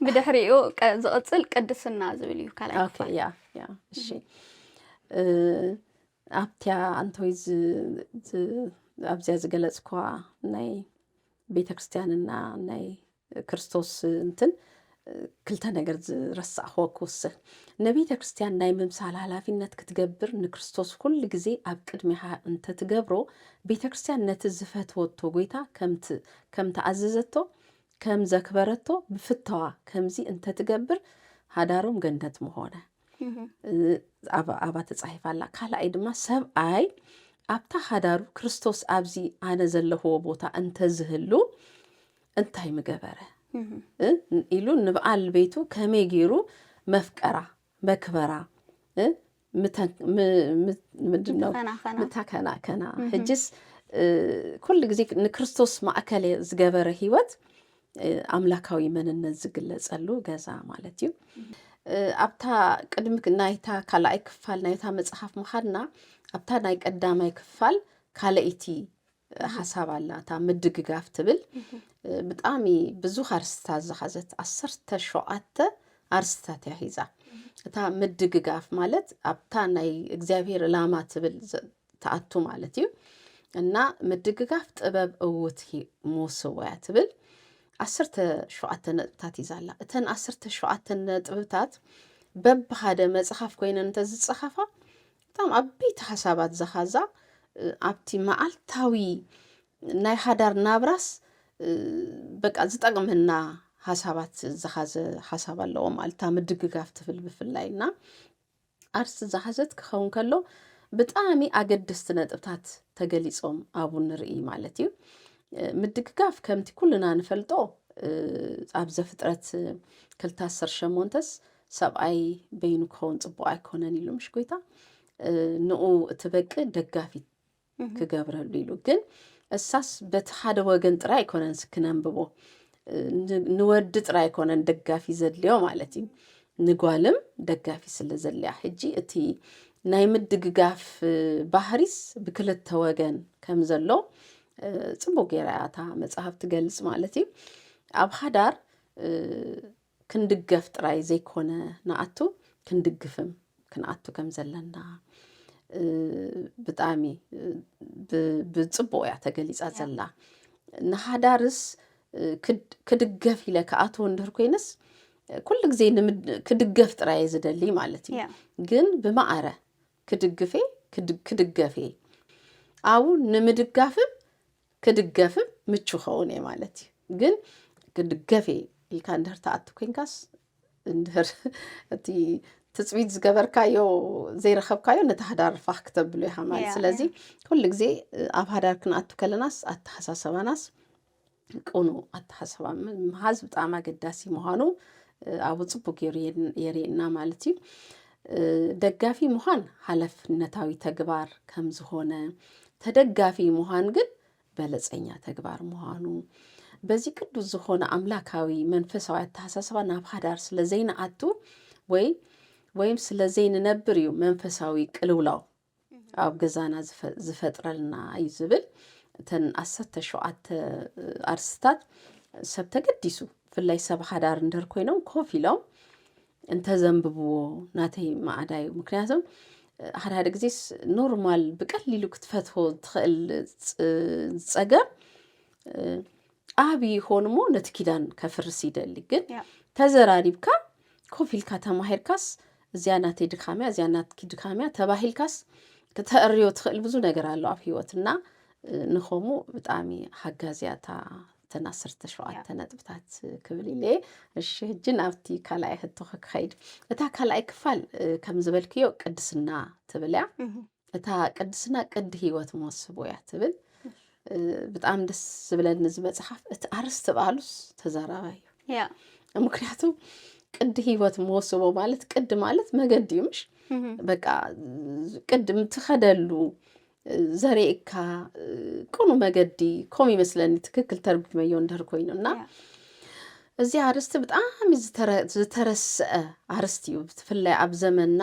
ብድሕሪኡ ቀ- ዝቕፅል ቅድስና ዝብል እዩ ካልኣይ ኦኬ ክፋል ያ ያ እሺ እ፣ ኣብቲያ ኣንተወይ ዝ- ዝ- ኣብዚያ ዝገለጽኳ ናይ ቤተ ክርስቲያንና ናይ ክርስቶስ እንትን ክልተ ነገር ዝረሳዕኹዎ ክውስኽ ንቤተ ክርስቲያን ናይ ምምሳል ሃላፊነት ክትገብር ንክርስቶስ ኩሉ ግዜ ኣብ ቅድሚኻ እንተትገብሮ ቤተ ክርስቲያን ነቲ ዝፈትወቶ ጎይታ ከም ተኣዘዘቶ ከም ዘክበረቶ ብፍተዋ ከምዚ እንተትገብር ሃዳሮም ገነት ምኾነ ኣብኣ ተጻሒፋ ኣላ ካልኣይ ድማ ሰብኣይ ኣብታ ሃዳሩ ክርስቶስ ኣብዚ ኣነ ዘለኹዎ ቦታ እንተዝህሉ እንታይ ምገበረ ኢሉ ንብዓል ቤቱ ከመይ ገይሩ መፍቀራ መክበራ ምንድነው ምታከናከና ሕጅስ ኩሉ ግዜ ንክርስቶስ ማእከል ዝገበረ ህይወት ኣምላካዊ መንነት ዝግለጸሉ ገዛ ማለት እዩ ኣብታ ቅድሚ ናይታ ካልኣይ ክፋል ናይታ መጽሓፍ ምኻድና ኣብታ ናይ ቀዳማይ ክፋል ካልኣይቲ ሓሳብ ኣላ እታ ምድግጋፍ ትብል ብጣዕሚ ብዙሕ ኣርስታት ዝሓዘት ዓሰርተ ሸውዓተ ኣርስታት እያ ሒዛ እታ ምድግጋፍ ማለት ኣብታ ናይ እግዚኣብሄር ዕላማ ትብል ዘ- ትኣቱ ማለት እዩ እና ምድግጋፍ ጥበብ እውት ሂ- ምውስዋያ ትብል ዓሰርተ ሸውዓተ ነጥብታት ሒዛ ኣላ እተን ዓሰርተ ሸውዓተ ነጥብታት በብሓደ መፅሓፍ ኮይነን እንተዝፀሓፋ እቶም ዓበይቲ ሓሳባት ዘኻዛ ኣብቲ መዓልታዊ ናይ ሓዳር ናብራስ በቃ ዝጠቕመና ሓሳባት ዝሓዘ ሓሳብ ኣለዎ ማለት እታ ምድግጋፍ ትብል ብፍላይ እና ኣርስቲ ዝሓዘት ክኸውን ከሎ ብጣዕሚ ኣገደስቲ ነጥብታት ተገሊጾም ኣብኡ ንርኢ ማለት እዩ ምድግጋፍ ከምቲ ኩልና ንፈልጦ ኣብ ዘፍጥረት ክልተ ዓሰርተ ሸሞንተስ ሰብኣይ በይኑ ክኸውን ፅቡቅ ኣይኮነን ኢሉ ምሽ ጎይታ ንኡ እቲ በቂ ደጋፊት ክገብረሉ ኢሉ ግን እሳስ በቲ ሓደ ወገን ጥራይ ኣይኮነን ስክነንብቦ ንወዲ ጥራይ ኣይኮነን ደጋፊ ዘድልዮ ማለት እዩ ንጓልም ደጋፊ ስለ ዘድልያ ሕጂ እቲ ናይ ምድግጋፍ ባህሪስ ብክልተ ወገን ከም ዘሎ ፅቡቅ ጌራ እያ እታ መፅሃፍ ትገልፅ ማለት እዩ ኣብ ሓዳር ክንድገፍ ጥራይ ዘይኮነ ንኣቱ ክንድግፍም ክንኣቱ ከም ዘለና ብጣዕሚ ብፅቡቅ እያ ተገሊፃ ዘላ ንሃዳርስ ክድገፍ ኢለ ክኣትዎ እንድህር ኮይነስ ኩሉ ግዜ ክድገፍ ጥራየ ዝደሊ ማለት እዩ ግን ብማዕረ ክድግፌ ክድገፌ ኣብኡ ንምድጋፍም ክድገፍም ምቹ ኸውን እየ ማለት እዩ ግን ክድገፍ እየ ኢልካ እንድህር ተኣቱ ኮንካስ እንድህር እቲ ትፅቢት ዝገበርካዮ ዘይረኸብካዮ ነቲ ሃዳር ፋኽ ክተብሉ ኢኻ ማለት ስለዚ ኩሉ ግዜ ኣብ ሃዳር ክንኣቱ ከለናስ ኣተሓሳሰባናስ ቅኑ ኣተሓሳሰባ ምሃዝ ብጣዕሚ ኣገዳሲ ምዃኑ ኣብኡ ፅቡቅ ገይሩ የርእና ማለት እዩ ደጋፊ ምዃን ሓላፍነታዊ ተግባር ከም ዝኾነ ተደጋፊ ምዃን ግን በለጸኛ ተግባር ምዃኑ በዚ ቅዱስ ዝኾነ ኣምላካዊ መንፈሳዊ ኣተሓሳስባ ናብ ሓዳር ስለ ዘይንኣቱ ወይ ወይም ስለ ዘይንነብር እዩ መንፈሳዊ ቅልውላው ኣብ ገዛና ዝፈጥረልና እዩ ዝብል እተን ዓሰርተ ሸውዓተ ኣርስታት ሰብ ተገዲሱ ብፍላይ ሰብ ሓዳር እንደር ኮይኖም ኮፍ ኢሎም እንተዘንብብዎ ናተይ ማዕዳ እዩ ምክንያቱ ሓደ ሓደ ግዜስ ኖርማል ብቀሊሉ ክትፈትዎ ትኽእል ፀገም ዓብ ይኾን እሞ ነቲ ኪዳን ከፍርስ ይደሊ ግን ተዘራሪብካ ኮፍ ኢልካ ተማሂርካስ እዚያ ናተይ ድካምያ እዚያ ናትኪ ድካምያ ተባሂልካስ ክተእርዮ ትኽእል ብዙ ነገር ኣሎ ኣብ ሂወት እና ንኸምኡ ብጣዕሚ ሓጋዝያ እታ እተን ዓሰርተ ሸውዓተ ነጥብታት ክብል ኢለ እሺ ሕጂ ናብቲ ካልኣይ ሕቶኸ ክኸይድ እታ ካልኣይ ክፋል ከም ዝበልክዮ ቅድስና ትብል እያ እታ ቅድስና ቅዲ ህይወት መወስቦ እያ ትብል ብጣዕሚ ደስ ዝብለኒ እዚ መፅሓፍ እቲ ኣርስቲ በዓሉስ ተዛራባይ እዩ ምክንያቱ ቅዲ ህይወት መወስቦ ማለት ቅዲ ማለት መገዲ እዩ ምሽ በቃ ቅድም ትኸደሉ ዘርእካ ቅኑ መገዲ ከምኡ ይመስለኒ ትክክል ተርጉመዮ እንድህር ኮይኑ እና እዚ ኣርስቲ ብጣዕሚ ዝተረስዐ ኣርስቲ እዩ ብፍላይ ኣብ ዘመንና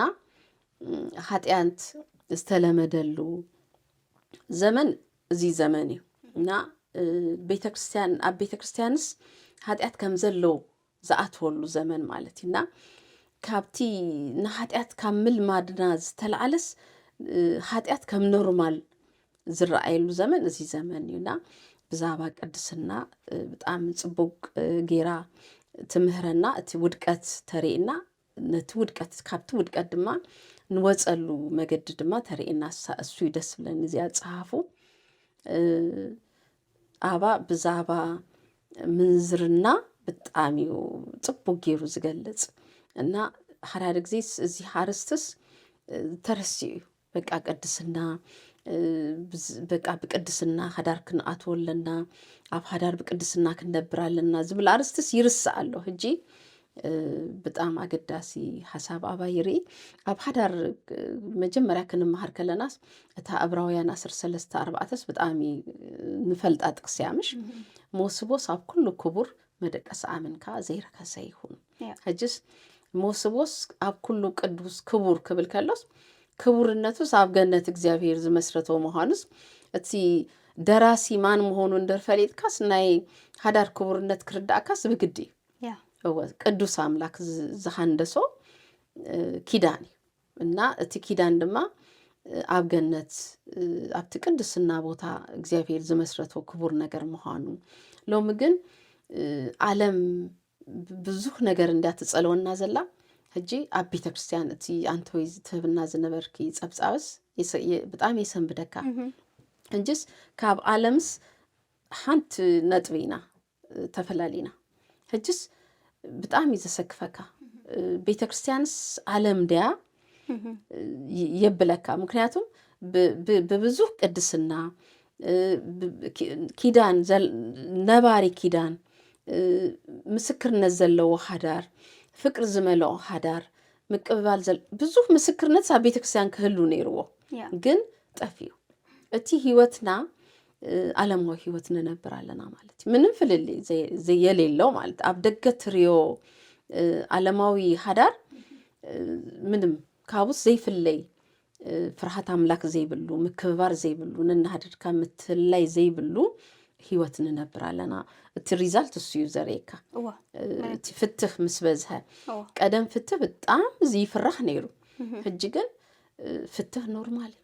ሃጢያንት ዝተለመደሉ ዘመን እዚ ዘመን እዩ እና ቤተክርስትያን ኣብ ቤተክርስትያንስ ሃጢያት ከም ዘለው ዝኣትወሉ ዘመን ማለት እዩ እና ካብቲ ንሓጢኣት ካብ ምልማድና ዝተላዓለስ ሓጢኣት ከም ኖርማል ዝረኣየሉ ዘመን እዚ ዘመን እዩና ብዛዕባ ቅድስና ብጣዕሚ ፅቡቅ ጌራ ትምህረና እቲ ውድቀት ተርእና ነቲ ውድቀት ካብቲ ውድቀት ድማ ንወፀሉ መገዲ ድማ ተርእና እሱ ደስ ብለኒ እዚኣ ፀሓፉ ጣባ ብዛባ ምንዝርና ብጣዕሚ እዩ ጽቡቅ ገይሩ ዝገልጽ እና ሓዳድ ጊዜ እዚ ሓርስትስ ተረሲዑ እዩ በቃ ቅድስና በቃ ብቅድስና ሓዳር ክንኣትዎ ኣለና ኣብ ሓዳር ብቅድስና ክንነብር ኣለና ዝብል ኣርስትስ ይርስዕ ኣሎ ሕጂ ብጣም ኣገዳሲ ሓሳብ ኣባ ይርኢ ኣብ ሓዳር መጀመርያ ክንምሃር ከለናስ እታ እብራውያን ኣስር ሰለስተ ኣርባዕተስ ብጣዕሚ ንፈልጣ ጥቅስያ ምሽ መወስቦስ ኣብ ኩሉ ክቡር መደቀስ ኣምንካ ዘይረከሰ ይኹን ሕጅስ መወስቦስ ኣብ ኩሉ ቅዱስ ክቡር ክብል ከሎስ ክቡርነቱስ ኣብ ገነት እግዚኣብሄር ዝመስረቶ ምዃኑስ እቲ ደራሲ ማን ምሆኑ እንደር ፈሊጥካስ ናይ ሓዳር ክቡርነት ክርዳእካስ ብግዲ እዩ እወ ቅዱስ ኣምላክ ዝሃንደሶ ኪዳን እዩ እና እቲ ኪዳን ድማ ኣብ ገነት ኣብቲ ቅድስና ቦታ እግዚኣብሄር ዝመስረቶ ክቡር ነገር ምዃኑ ሎሚ ግን ዓለም ብዙሕ ነገር እንድያ ትጸልወና ዘላ ሕጂ ኣብ ቤተ ክርስትያን እቲ ኣንተወይ ዝትህብና ዝነበርኪ ጸብጻብስ ብጣዕሚ የሰንብደካ እንጂስ ካብ ዓለምስ ሓንቲ ነጥቢ ኢና ተፈላሊና ሕጅስ ብጣዕሚ ዘሰክፈካ ቤተ ክርስቲያንስ ዓለም ድያ የብለካ። ምክንያቱም ብብዙ ቅድስና ኪዳን ነባሪ ኪዳን ምስክርነት ዘለዎ ሓዳር ፍቅሪ ዝመልኦ ሓዳር ምቅብባል ብዙ ምስክርነት ኣብ ቤተ ክርስቲያን ክህሉ ነይርዎ ግን ጠፍዩ እቲ ህይወትና ዓለማዊ ህይወት ንነብር ኣለና ማለት እዩ ምንም ፍልልይ የሌለው ማለት ኣብ ደገ ትርዮ ዓለማዊ ሃዳር ምንም ካብስ ዘይፍለይ ፍርሃት ኣምላክ ዘይብሉ ምክብባር ዘይብሉ ንናሃድድካ ምትላይ ዘይብሉ ህይወት ንነብር ኣለና እቲ ሪዛልት እሱ እዩ ዘርእካ እቲ ፍትህ ምስ በዝሀ ቀደም ፍትህ ብጣም ዝይፍራህ ነይሩ ሕጂ ግን ፍትህ ኖርማል እዩ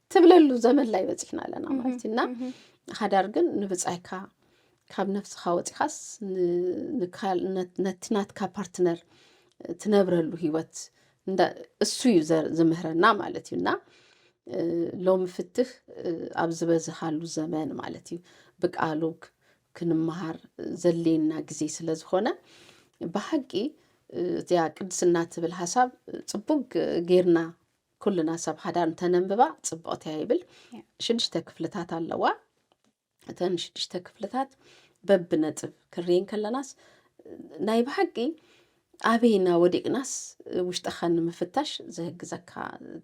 ትብለሉ ዘመን ላይ በፂሕና ኣለና ማለት እና ሓዳር ግን ንብፃይካ ካብ ነፍስኻ ወፂኻስ ነቲ ናትካ ፓርትነር ትነብረሉ ሂወት እሱ እዩ ዝምህረና ማለት እዩ እና ሎሚ ፍትህ ኣብ ዝበዝሃሉ ዘመን ማለት እዩ ብቃሉ ክንመሃር ዘሌና ግዜ ስለ ዝኾነ ብሓቂ እዚኣ ቅድስና ትብል ሓሳብ ፅቡቅ ጌርና ኩልና ሰብ ሓዳር እንተነንብባ ፅብቕቲ እያ ይብል ሽዱሽተ ክፍልታት ኣለዋ እተን ሽዱሽተ ክፍልታት በብነጥብ ክርየን ከለናስ ናይ ብሓቂ ኣበይና ወዲቕናስ ውሽጠኻ ንምፍታሽ ዝህግዘካ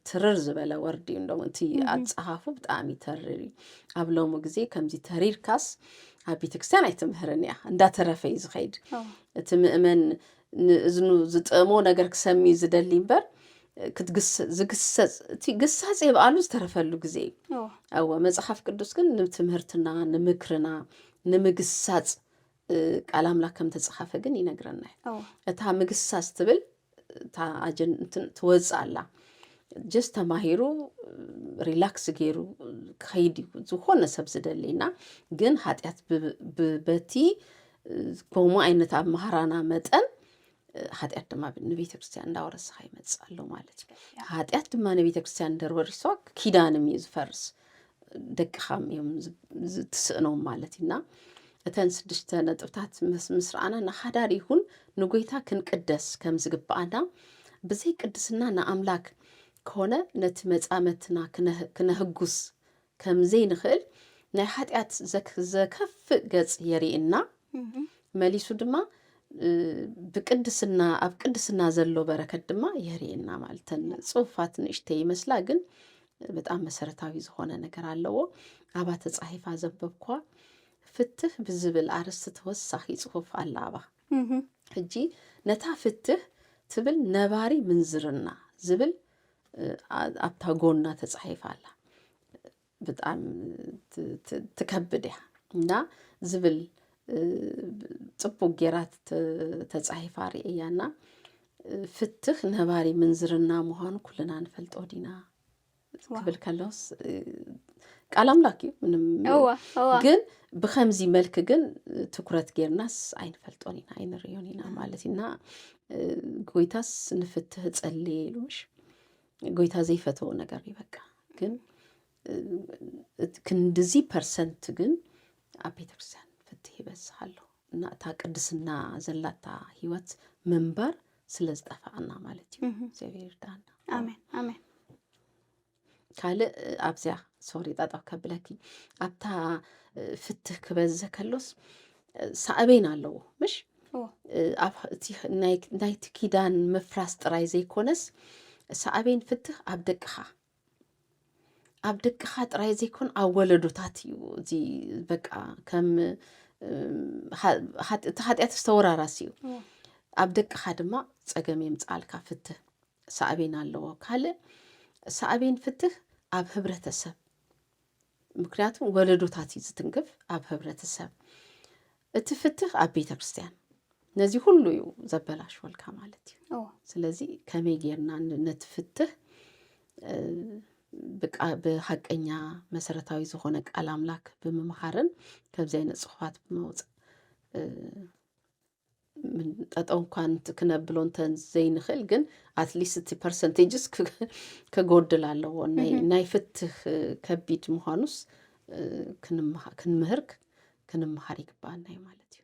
ትርር ዝበለ ወርዲ እዩ እንዶም እቲ ኣፀሃፉ ብጣዕሚ ተርር እዩ ኣብ ሎሚ ግዜ ከምዚ ተሪርካስ ኣብ ቤተክርስትያን ኣይትምህርን እያ እንዳተረፈ እዩ ዝኸይድ እቲ ምእመን ንእዝኑ ዝጥእሞ ነገር ክሰምዩ ዝደሊ እምበር ዝግሰጽ እቲ ግሳጽ የብኣሉ ዝተረፈሉ ግዜ እዩ ኣወ መጽሓፍ ቅዱስ ግን ንትምህርትና ንምክርና ንምግሳጽ ቃል ኣምላክ ከም ተጽሓፈ ግን ይነግረና እዩ እታ ምግሳጽ ትብል እታ ኣጀንትን ትወፅእ ኣላ ጀስ ተማሂሩ ሪላክስ ገይሩ ክኸይድ እዩ ዝኾነ ሰብ ዝደሊ እና ግን ሃጢኣት በቲ ከምኡ ዓይነት ኣብ ማህራና መጠን ሓጢኣት ድማ ንቤተ ክርስትያን እንዳወረስኻ ይመፅእ ኣሎ ማለት እዩ ሓጢኣት ድማ ንቤተ ክርስትያን እንደርወሪሶ ኪዳንም እዩ ዝፈርስ ደቅኻም እዮም ዝትስእኖም ማለት እዩና እተን ስድሽተ ነጥብታት ምስ ረኣና ንሓዳር ይኹን ንጎይታ ክንቅደስ ከም ዝግብኣና ብዘይ ቅድስና ንኣምላክ ከሆነ ነቲ መፃመትና ክነህጉስ ከም ዘይንኽእል ናይ ሓጢኣት ዘከፍእ ገጽ የሪእና መሊሱ ድማ ብቅድስና ኣብ ቅድስና ዘሎ በረከት ድማ የሪእና ማለተን ጽሑፋት ንእሽተ ይመስላ ግን በጣም መሰረታዊ ዝኾነ ነገር ኣለዎ። ኣባ ተጻሒፋ ዘንበብኳ ፍትህ ብዝብል ኣርስቲ ተወሳኺ ጽሑፍ ኣላ ኣባ ሕጂ ነታ ፍትህ ትብል ነባሪ ምንዝርና ዝብል ኣብታ ጎና ተጻሒፋ ኣላ ብጣዕሚ ትከብድ እያ እና ዝብል ጽቡቅ ጌራ ተጻሒፋ ርእየያ እና ፍትኽ ነባሪ ምንዝርና ምዃኑ ኩልና ንፈልጦ ዲና ክብል ከሎስ ቃል ኣምላክ እዩ ምንም ግን ብከምዚ መልክ ግን ትኩረት ጌርናስ ኣይንፈልጦን ኢና ኣይንርዮን ኢና ማለት ኢና ጎይታስ ንፍትህ ጸልየ ኢሉሽ ጎይታ ዘይፈተዎ ነገር እዩ። በቃ ግን ክንድዚ ፐርሰንት ግን ኣብ ቤተክርስትያን ፍትህ ይበዝሕ ኣሎ እና እታ ቅድስና ዘላታ ህይወት ምንባር ስለ ዝጠፋኣና ማለት እዩ። እግዚኣብሔር ይርዳና። ኣሜን ኣሜን። ካልእ ኣብዚያ ሶሪ ጠጠው ከብለኪ ኣብታ ፍትህ ክበዝዘ ከሎስ ሳዕቤን ኣለዎ ምሽ ናይቲ ኪዳን ምፍራስ ጥራይ ዘይኮነስ ሳዕቤን ፍትህ ኣብ ደቅኻ ኣብ ደቅኻ ጥራይ ዘይኮን ኣብ ወለዶታት እዩ እዚ በቃ ከም እቲ ሓጢኣት ዝተወራራሲ እዩ ኣብ ደቅኻ ድማ ፀገም የምፃልካ ፍትህ ሳዕቤን ኣለዎ። ካልእ ሳዕቤን ፍትህ ኣብ ህብረተሰብ ምክንያቱ ወለዶታት እዩ ዝትንክፍ ኣብ ህብረተሰብ እቲ ፍትህ ኣብ ቤተ ክርስትያን ነዚ ሁሉ እዩ ዘበላሽወልካ ማለት እዩ እዎ ስለዚ ከመይ ጌርና ን- ነቲ ፍትህ እ፣ ብቃ- ብሓቀኛ መሰረታዊ ዝኾነ ቃል ኣምላክ ብምምሃርን ከምዚ ዓይነት ፅሑፋት ብምውፃእ እ፣ ጠጠው እንኳን ክነብሎ እንተዘይንኽእል ግን ኣትሊስት እቲ ፐርሰንቴጅስ ከጎድል ኣለዎ ናይ ፍትህ ከቢድ ምዃኑስ ክንምህር ክንምሃር ይግባኣና እዩ ማለት እዩ